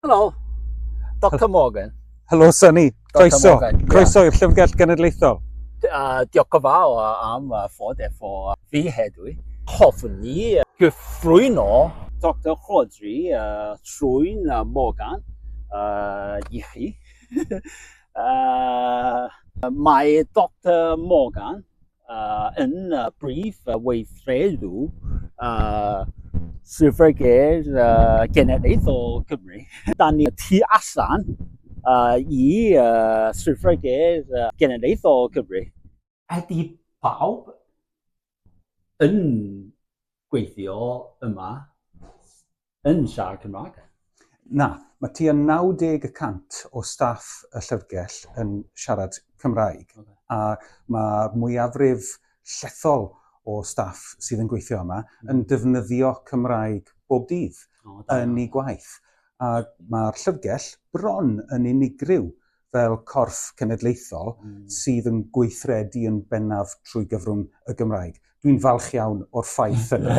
Helo, Dr Morgan. Helo, Sonny. Croeso. Croeso i'r Llyfrgell Genedlaethol. Uh, diolch yn fawr am uh, fod efo fi hedwi. Hoffwn ni gyflwyno Dr Rodri uh, Trwyn uh, Morgan uh, i chi. uh, mae Dr Morgan uh, yn uh, brif uh, weithredu uh, Llyfrgell uh, Genedlaethol Cymru. Da ni tu allan uh, i uh, Llyfrgell uh, Genedlaethol Cymru. Ydy pawb yn gweithio yma yn siarad Cymraeg? Na, mae tua 90 y cant o staff y llyfrgell yn siarad Cymraeg, okay. a mae mwyafrif llethol o staff sydd yn gweithio yma mm. yn defnyddio Cymraeg bob dydd oh, yn ei gwaith. A mae'r llyfrgell bron yn unigryw fel corff cenedlaethol mm. sydd yn gweithredu yn bennaf trwy gyfrwng y Gymraeg. Dwi'n falch iawn o'r ffaith yna.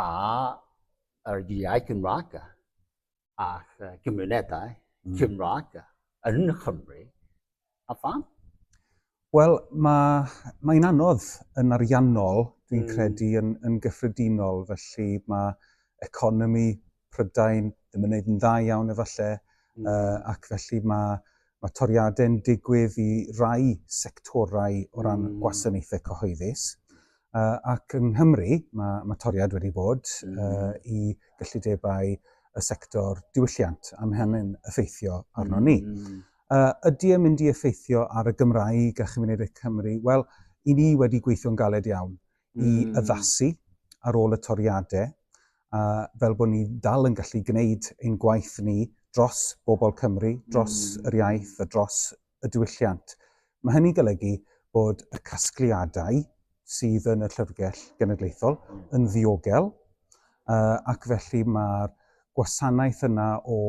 a yr iaith Gymraeg ac cymunedau hmm. Cymraeg yn Nghymru, a pham? Wel, mae'n ma anodd yn ariannol, dwi'n mm. credu, yn, yn gyffredinol, felly mae economi Prydain ddim yn wneud yn dda iawn efallai, mm. uh, ac felly mae, mae toriadau'n digwydd i rai sectorau o ran mm. gwasanaethau cyhoeddus. Uh, ac yng Nghymru, mae, mae toriad wedi bod mm. uh, i gyllidebau y sector diwylliant am hynny'n effeithio arno mm. ni. Uh, ydy e'n mynd i effeithio ar y Gymraeg a chymunedau Cymru? Wel, i ni wedi gweithio'n galed iawn i mm. addasu ar ôl y toriadau a fel bod ni dal yn gallu gwneud ein gwaith ni dros bobl Cymru, dros mm. yr iaith a dros y diwylliant. Mae hynny'n golygu bod y casgliadau sydd yn y llyfrgell genedlaethol mm. yn ddiogel, uh, ac felly mae'r gwasanaeth yna o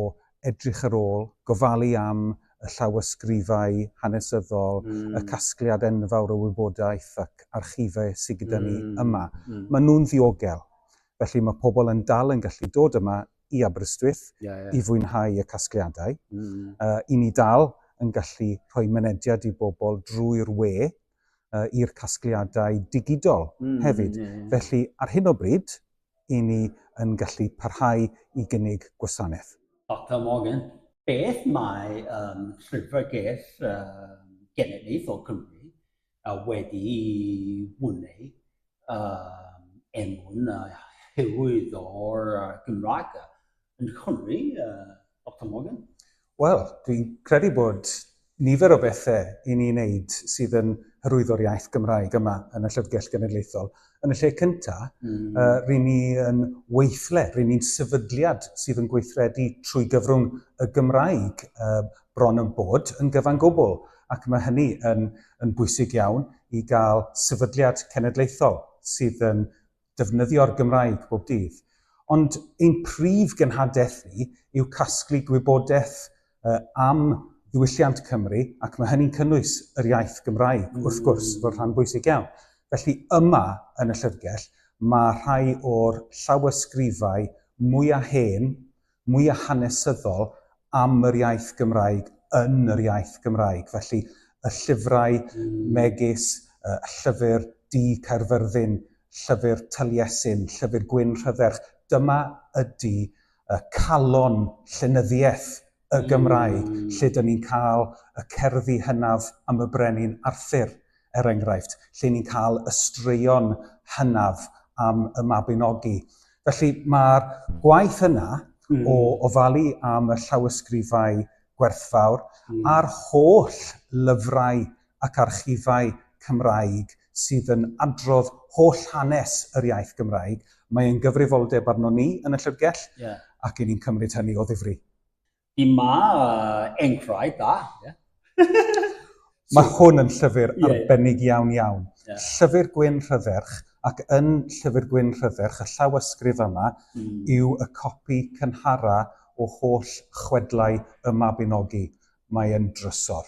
edrych ar ôl, gofalu am y llawysgrifau hanesyddol, mm. y casgliad enfawr o wybodaeth ac archifau sydd gyda mm. ni yma. Mm. Maen nhw'n ddiogel. Felly mae pobl yn dal yn gallu dod yma i Aberystwyth yeah, yeah. i fwynhau y casgliadau. Mm. Uh, I ni dal yn gallu rhoi mynediad i bobl drwy'r we uh, i'r casgliadau digidol mm, hefyd. Yeah, yeah. Felly ar hyn o bryd, i ni yn gallu parhau i gynnig gwasanaeth. Dr Morgan, beth mae um, llyfrgell uh, genedlaethol Cymru uh, wedi'i wneud um, enw'n uh, hywyd o'r uh, Gymraeg yn Cymru, uh, Dr Morgan? Wel, dwi'n credu bod nifer o bethau i ni wneud sydd yn hyrwyddo'r iaith Gymraeg yma yn y Llyfrgell Genedlaethol. Yn y lle cyntaf, mm. uh, rydyn ni yn weithle, rydyn ni'n sefydliad sydd yn gweithredu trwy gyfrwng y Gymraeg uh, bron yn bod yn gyfan gwbl, ac mae hynny yn, yn bwysig iawn i gael sefydliad cenedlaethol sydd yn defnyddio'r Gymraeg bob dydd. Ond ein prif gynhadaeth ni yw casglu gwybodaeth am ddiwylliant Cymru, ac mae hynny'n cynnwys yr iaith Gymraeg, wrth gwrs, fel rhan bwysig iawn. Felly yma yn y llyfrgell mae rhai o'r llawysgrifau mwyaf hen, mwyaf hanesyddol am yr iaith Gymraeg yn yr iaith Gymraeg. Felly y llyfrau megis y llyfr Du Caerfyrddin, llyfr Taliesin, llyfr Gwyn Rhydderch, dyma ydy y calon llenyddiaeth y Gymraeg, lle dan ni'n cael y cerddi hynaf am y Brenin Arthur, er enghraifft, lle ni'n cael y straeon hynaf am y Mabinogi. Felly mae'r gwaith yna mm. o ofalu am y llawysgrifau gwerthfawr mm. a'r holl lyfrau ac archifau Cymraeg sydd yn adrodd holl hanes yr iaith Gymraeg, mae e'n gyfrifoldeb arnon ni yn y Llyfrgell, ac i ni'n cymryd hynny o ddifri. Dyma enghraifft dda, ie. Mae hwn yn llyfr arbennig iawn iawn. Llyfr gwyn Rhydderch, ac yn Llyfr Gwyn Rhydderch, y llawysgrif yma, yw y copi cynhara o holl chwedlau y Mabinogi. Mae e'n drysor.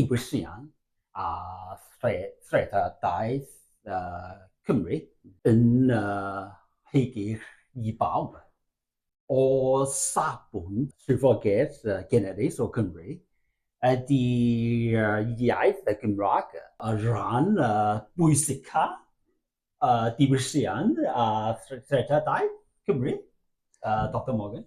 i welliant a threftadaeth Cymru. Yn hygyrch i bawb. O safbwynt llifogydd generis o Gymru, ydy iaith y Gymraeg y rhan bwysicaf uh, diwylliant a threadadau Cymru, uh, Dr Morgan?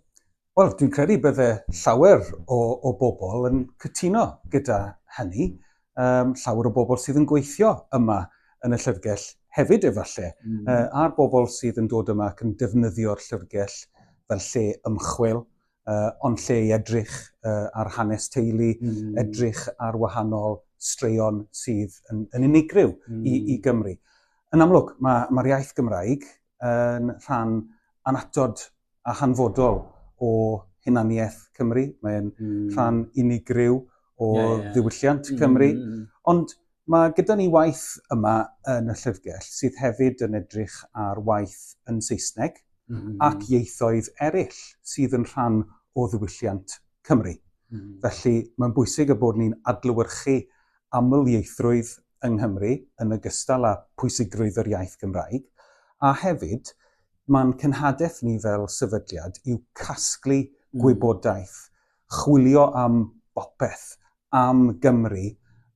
Wel, dwi'n credu bydde llawer o, o bobl yn cytuno gyda hynny. Um, llawer o bobl sydd yn gweithio yma yn y llyfrgell hefyd efallai, mm. uh, a'r bobl sydd yn dod yma ac yn defnyddio'r llyfrgell fel lle ymchwil, uh, ond lle i edrych uh, ar hanes teulu, mm. edrych ar wahanol straeon sydd yn, yn unigryw mm. i, i Gymru. Yn amlwg, mae'r ma, iaith Gymraeg yn rhan anatod a hanfodol o hunaniaeth Cymru. Mae'n mm. rhan unigryw o yeah, yeah. ddiwylliant mm. Cymru. Mm. Ond Mae gyda ni waith yma yn y llyfrgell sydd hefyd yn edrych ar waith yn Saesneg mm -hmm. ac ieithoedd eraill sydd yn rhan o ddiwylliant Cymru. Mm -hmm. Felly mae'n bwysig y bod ni'n adlywyrchu amlieithrwydd yng Nghymru yn ogystal â pwysigrwydd yr iaith Gymraeg, a hefyd mae'n cenhadaeth ni fel sefydliad yw casglu mhm. gwybodaeth, chwilio am bopeth am Gymru